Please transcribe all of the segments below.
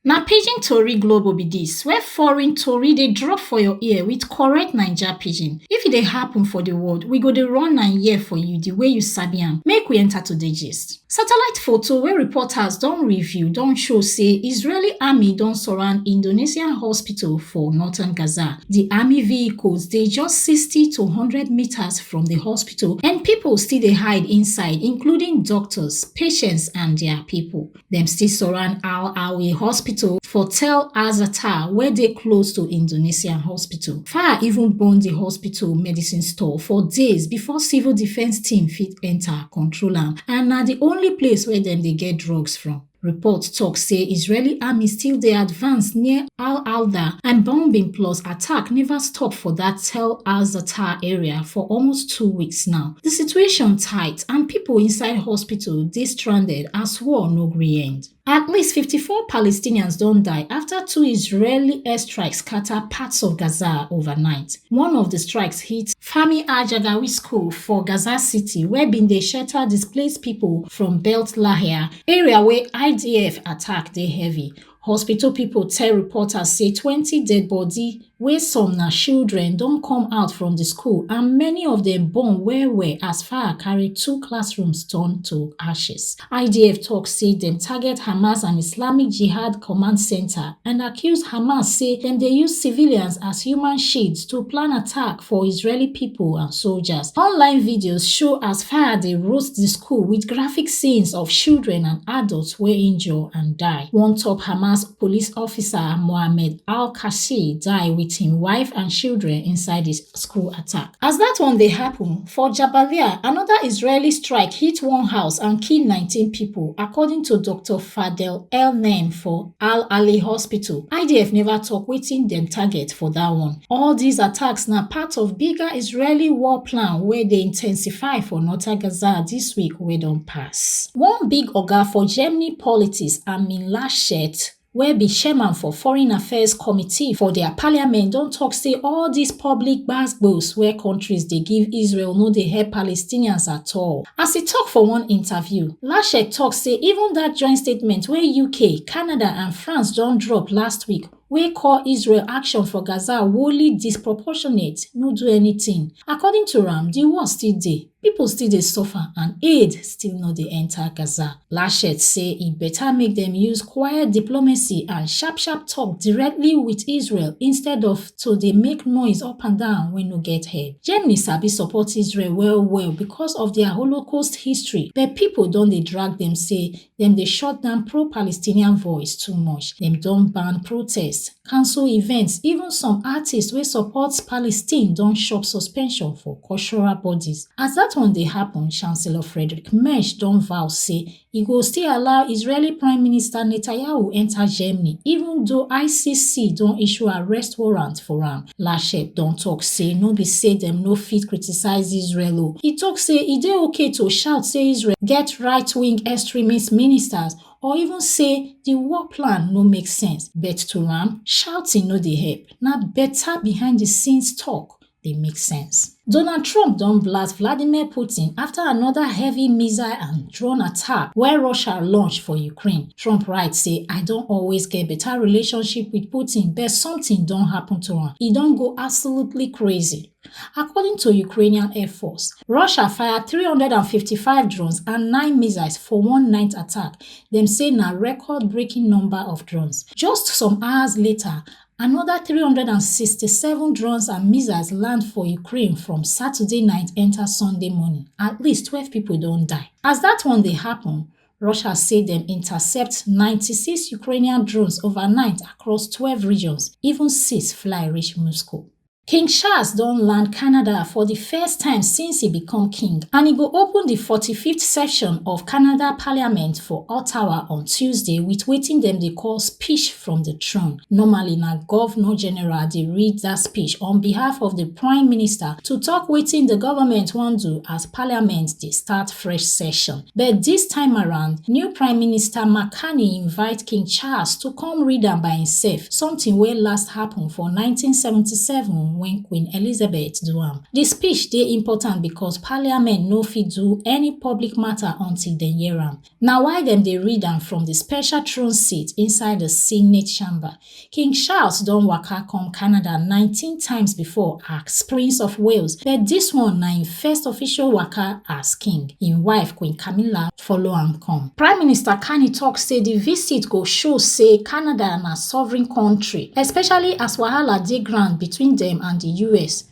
Na pidgin tori globo be dis where foreign tori dey drop for your ear with correct Naija pidgin. If e dey happen for the world, we go dey run am here for you the way you sabi am. Make we enter today gist. Satellite photo wey reporters don review don show say Israeli army don surround Indonesian hospital for northern Gaza. The army vehicles dey just 60 to 100 meters from the hospital and people still dey hide inside, including doctors, patients and their people. Dem still surround Al Awi Hospital for Tel Azatar wey dey close to Indonesian hospital. Fire even burn di hospital medicine store for days before civil defence team fit enta control am and na di only place wey dem dey get drugs from. Report tok say Israeli army still dey advance near Al Alda and bombing plus attack neva stop for dat Tel Azatar area for almost two weeks now. Di situation tight deaths and pipo inside hospital dey stranded as war no gree end. At least 54 Palestinians don die afta two Israeli airstrikes scata parts of Gaza overnight. One of di strikes hit Fahmi al-Jagawi school for Gaza City wey bin dey shelter displaced pipo from Beit Lahia, area wey IDF attack dey heavy. hospital pipo tell reporters say twenty deadibodi wey some na children don come out from di school and many of dem burn wellwell as fire carry two classrooms turn to ashes idf tok say dem target hamas and islamic jihad command centre and accuse hamas say dem dey use civilians as human shields to plan attack for Israeli people and soldiers. Online videos show as fire dey roast the school with graphic scenes of children and adults wey injure and die. One top Hamas police officer, Mohammed al-Kashi, die with him wife and children inside the school attack. As that one dey happen, for Jabalia, another Israeli strike hit one house and kill 19 people, according to Dr. Fadel El-Naim for Al Ali Hospital. IDF never talk wetin dem target for that one. All these attacks na part of bigger Israeli war plan wey dey intensify for northern Gaza this week wey don pass. One big oga for Germany politics, Armin Laschet, wey be chairman for foreign affairs committee for dia parliament don tok say all dis public gbasgbos wey kontris dey give israel no dey help palestinians at all as e tok for one interview Laschet tok say even dat joint statement wey UK, Canada and France don drop last week wey call Israel action for Gaza wholly disproportionate no do anytin. According to am, di war still dey, pipo still dey suffer and aid still no dey enta Gaza. Laschet say e beta make dem use quiet diplomacy and sharp-sharp tok directly wit Israel instead of to dey make noise up and down wey no get head. Germany sabi support Israel well well because of dia Holocaust history, but pipo don dey drag dem say dem dey shut down pro-Palestinian voice too much. Dem don ban protests, cancel events, even some artists wey support Palestine don chop suspension for cultural bodies. As dat one dey happun, Chancellor Friedrich Merz don vow say e go still allow israeli prime minister netanyahu enta germany even though icc don issue arrest warrant for am lashe don tok say no be say dem no fit criticise israel o e tok say e dey okay to shout say israel get rightwing extremist ministers or even say di war plan no make sense but to am shouting no dey help na beta behind di scenes tok dey make sense. Donald Trump don blast Vladimir Putin after another heavy missile and drone attack wey Russia launch for Ukraine. Trump write say, I don always get better relationship with Putin but something don happen to am. E don go absolutely crazy. According to Ukrainian Air Force, Russia fire 355 drones and 9 missiles for one night attack. Dem say na record-breaking number of drones. Just some hours later, anoda 367 drones and missiles land for ukraine from saturday night enta sunday morning at least twelve pipo don die as dat one dey happun russia say dem intercept 96 ukrainian drones overnight across twelve regions even six fly reach moscow King Charles don land Canada for di first time since e become king and e go open di forty fifth session of Canada parliament for Ottawa on Tuesday wit wetin dem dey call speech from di throne. Normally na governor general dey read dat speech on behalf of di prime minister to tok wetin di government wan do as parliament dey start fresh session. But dis time around, new Prime Minister Mark Carney invite King Charles to come read am by imsef, sometin wey last happun for nineteen seventy seven wen Queen Elizabeth do am. Di speech dey important becos Parliament no fit do any public mata until dem hear am. Na why dem dey read am from di special throne seat inside di Senate Chamber. King Charles don waka come Canada nineteen times before as Prince of Wales but dis one na im first official waka as king, im wife Queen Camilla follow am come. Prime Minister Carney talk say di visit go show say Canada na sovereign kontri, especially as wahala dey ground between dem and di US.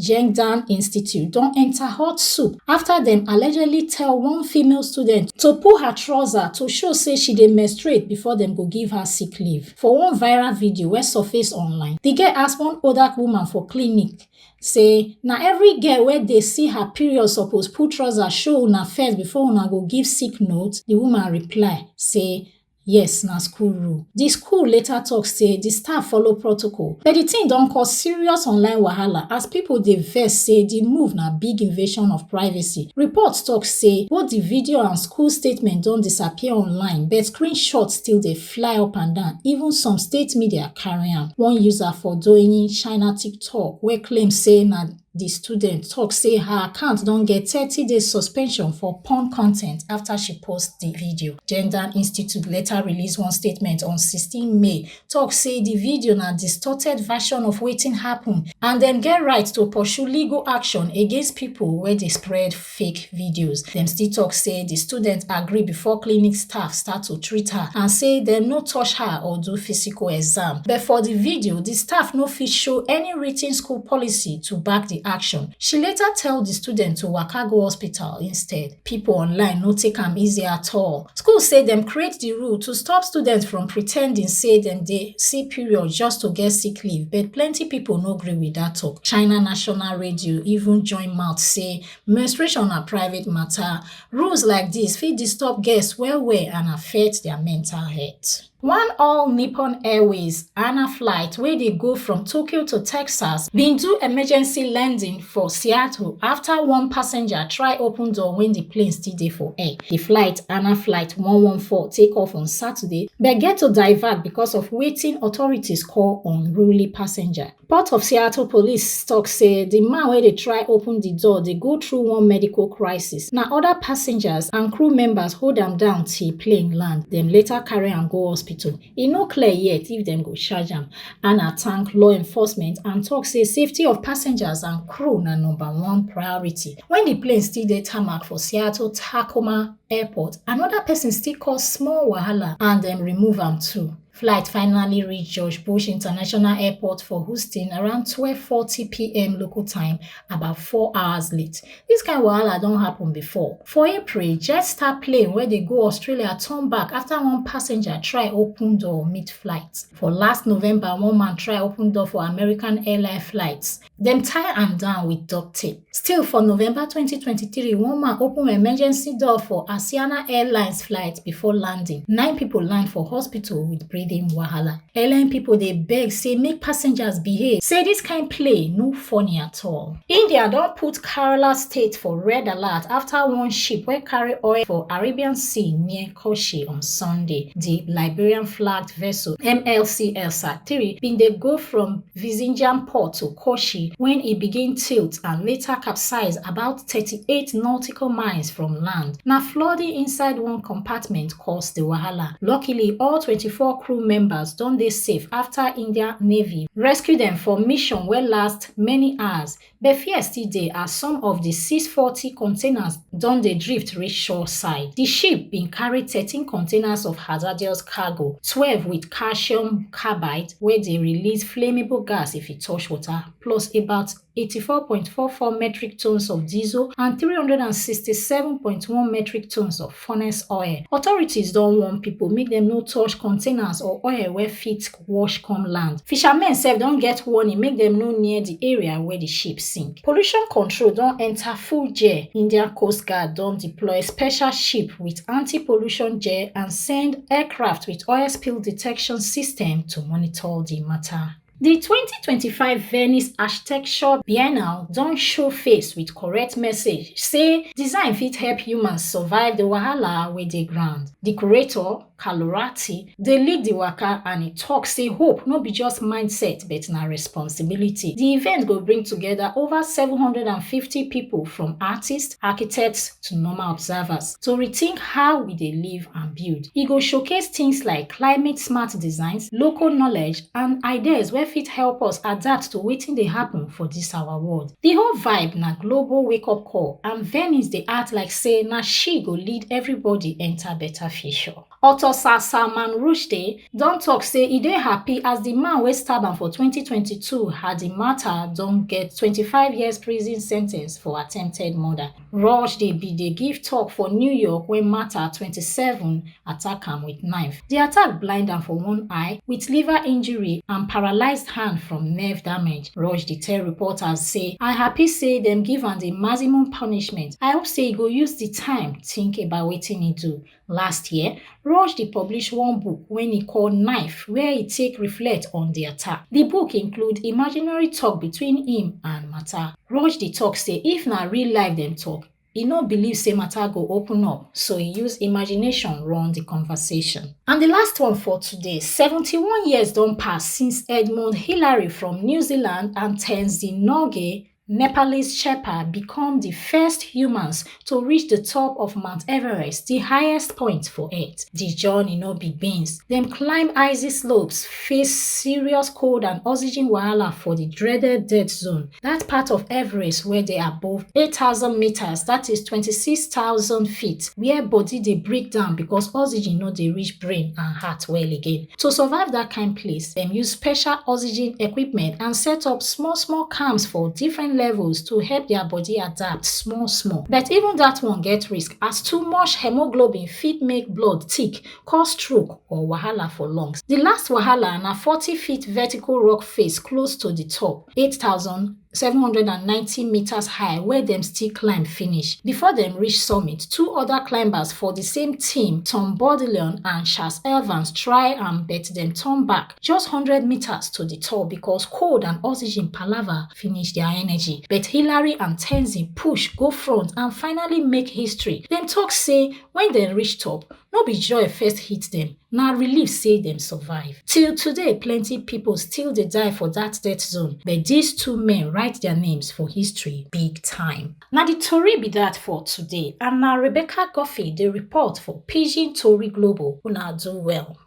Zhengdan Institute don enter hot soup after dem allegedly tell one female student to pull her trouser to show say she dey menstruate before dem go give her sick leave. For one viral video wey surface online, the girl ask one older woman for clinic say na every girl wey dey see her period suppose pull trouser show una first before una go give sick note. The woman reply say yes na school rule di school later tok say di staff follow protocol but di tin don cause serious online wahala as pipo dey vex say di move na big invasion of privacy reports tok say both di video and school statement don disappear online but screenshots still dey fly upandan even some state media carry am one user for douyin china tiktok wey claim say na di student tok say her account don get thirty days suspension for porn con ten t afta she post di video gender institute later release one statement on sixteen may tok say di video na distorted version of wetin happun and dem get right to pursue legal action against pipo wey dey spread fake videos. Dem still tok say di student agree before clinic staff start to treat her and say dem no touch her or do physical exam. But for di video, di staff no fit show any written school policy to back di action. She later tell di student to waka go hospital instead. Pipo online no take am easy at all. School say dem create di rule to stop students from pretending say dem dey see period just to get sick leave, but plenty pipo no gree with dat tok. China national radio even join mouth say menstruation na private matter. Rules like this fit disturb guests well well and affect their mental health. One all Nippon Airways ANA flight wey dey go from Tokyo to Texas bin do emergency landing for Seattle after one passenger try open door when the plane still dey for air. The flight ANA flight 114 take off on Saturday but get to divert because of wetin authorities call unruly passenger. Port of Seattle police tok say di man wey dey try open di door dey go through one medical crisis. Na oda passengers and crew members hold am down till plane land. Dem later carry am go hospital. E no clear yet if dem go charge am. Anna thank law enforcement and tok say safety of passengers and crew na number one priority. Wen di plane still dey tarmac for Seattle Tacoma Airport, anoda pesin still cause small wahala and dem remove am too. Flight finally reached George Bush International Airport for Houston around 12:40 p.m. local time, about four hours late. This kind of wahala don happen before. For April, Jetstar plane wey dey go Australia turn back after one passenger try open door mid-flight. For last November, one man try open door for American airline flights. dem tie am down with duct tape. Still for November 2023, one man open emergency door for Asiana Airlines flight before landing. Nine people land for hospital with breathing wahala. Airline people dey beg say make passengers behave. Say this kind play no funny at all. India don put Kerala state for red alert after one ship wey carry oil for Arabian Sea near Koshi on Sunday. Di Liberian-flagged vessel MLC Elsa three bin dey go from Vizinjan port to Koshi wen e begin tilt and later capsize about thirty-eight nautical miles from land. Na flooding inside one compartment cause di wahala. Luckily, all twenty-four crew members don dey safe afta Indian Navy rescue dem for mission wey last many hours but fear still dey as some of di 640 containers don dey drift reach shore side. Di ship bin carry 13 containers of hazardous cargo, 12 wit calcium carbide wey dey release flammable gas if e touch water, plus about 84.44 metric tons of diesel and 367.1 metric tons of furnace oil. Authorities don warn people make dem no touch containers or oil wey fit wash come land. Fishermen sef don get warning make dem no near the area where the ship sink. Pollution control don enter full gear. Indian Coast Guard don deploy special ship with anti-pollution gear and send aircraft with oil spill detection system to monitor the matter. Di twenty twenty five Venice Architecture Biennale don show face wit correct message say design fit help humans survive di wahala wey dey ground. Di curator, Carlo Ratti, dey lead di waka and e tok say hope no be just mindset but na responsibility. Di event go bring togeda ova seven hundred and fifty pipo from artists, architects to normal observers to rethink how we dey live and build. E go showcase tins like climate-smart designs, local knowledge and ideas wey fit help us adapt to wetin dey happen for dis our world. Di whole vibe na global wake up call and Venice dey act like say na she go lead everybody enter better future. Author Sir Salman Rushdie don talk say e dey happy as di man wey stab am for twenty twenty two Hadi Matar don get twenty five years prison sentence for attempted murder. Rushdie bin dey give tok for New York wen Mata, twenty-seven, attack am wit knife. Di attack blind am for one eye wit liver injury and paralysed hand from nerve damage. Rushdie tell reporters say, I happy say dem give am di maximum punishment. I hope say e go use di time tink about wetin e do. Last year, Rushdie publish one book wey e call Knife where e take reflect on di attack. Di book include imaginary tok between im and Mata. Rushdie tok say if na real life dem tok, e no believe say Mata go open up, so e use imagination run di conversation. And di last one for today, seventy one years don pass since Edmund Hillary from New Zealand and Tenzing Norgay Nepalese Sherpa become di first humans to reach di top of Mount Everest, di highest point for Earth. Di journey no be beans. Dem climb icy slopes, face serious cold and oxygen wahala for di dreaded death zone, dat part of Everest wey dey above 8,000 meters, dat is 26,000 feet, where body dey break down because oxygen no dey reach brain and heart well again. To survive that kind place, dem use special oxygen equipment and set up small small camps for different levels to help their body adapt small small. But even that one get risk as too much hemoglobin fit make blood thick, cause stroke or wahala for lungs. The last wahala na 40 feet vertical rock face close to the top, 8,000 790 meters high wey dem still climb finish. Before dem reach summit, two other climbers for the same team, Tom Bodeleon and Charles Evans try am but dem turn back just 100 meters to the top because cold and oxygen palava finish their energy. But Hillary and Tenzin push go front and finally make history. Dem talk say when dem reach top, No be joy first hit dem, na relief say dem survive. Till today, plenty people still dey die for that death zone, but these two men write their names for history big time. Na the tori be that for today, and na Rebecca Guffey dey report for Pidgin Tori Global. Una do well.